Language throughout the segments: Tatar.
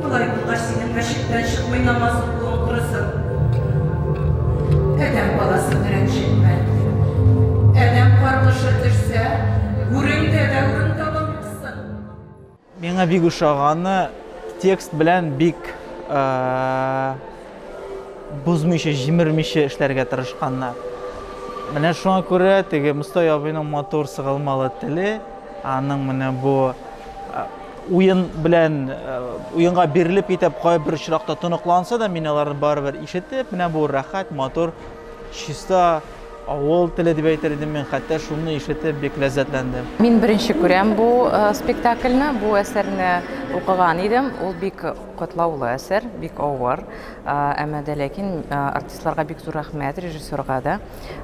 Болай булгач, синең мәчеттән чыкмый намаз укуың корысын. Адәм баласын рәнҗетмә. Адәм каргышы төшсә, гүреңдә дә урын табалмассың. Миңа бик ошаганы текст белән бик бозмыйча, җимермичә эшләргә тырышканнар. Менә шуңа күрә теге Мостай абыйның матур сыгылмалы теле, аның менә бу Уен белән уенга бирелеп китеп, кайбер очракта тоныкланса да, мин аларны барыбер ишетеп, менә бу рәхәт, матур, чиста авыл теле дип әйтер идем мин, хәтта шуны ишетеп бик ләззәтләндем. Мин беренче күрәм бу э, спектакльне, бу әсәрне укыган идем. Ул бик катлаулы әсәр, бик авыр. Э, әмма дә ләкин э, артистларга бик зур рәхмәт, режиссерга да.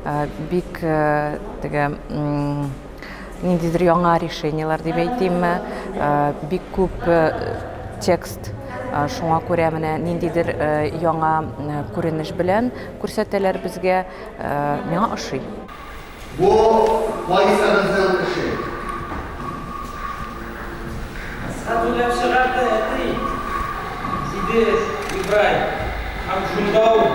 э, бик э, теге ниндидер яңа решениелар дип әйтимме бик күп текст шуңа күрә менә ниндидер яңа күренеш белән күрсәтәләр безгә миңа ошый бу вайсарызның эше Садуләп чыгарды әти диде Ибраһим һәм шунда ук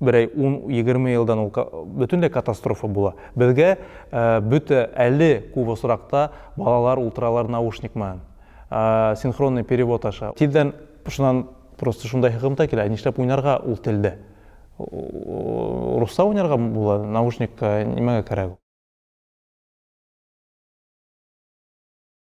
Берәй ун-егерме елдан ул бөтенләй катастрофа була. Безгә бөтә әле күп осракта балалар утыралар наушник менән, синхронный перевод аша. Тиздән шуннан просто шундай хыкымта килә, ә нишләп уйнарга ул телдә? Русча уйнарга була, наушник нимәгә кәрәк ул?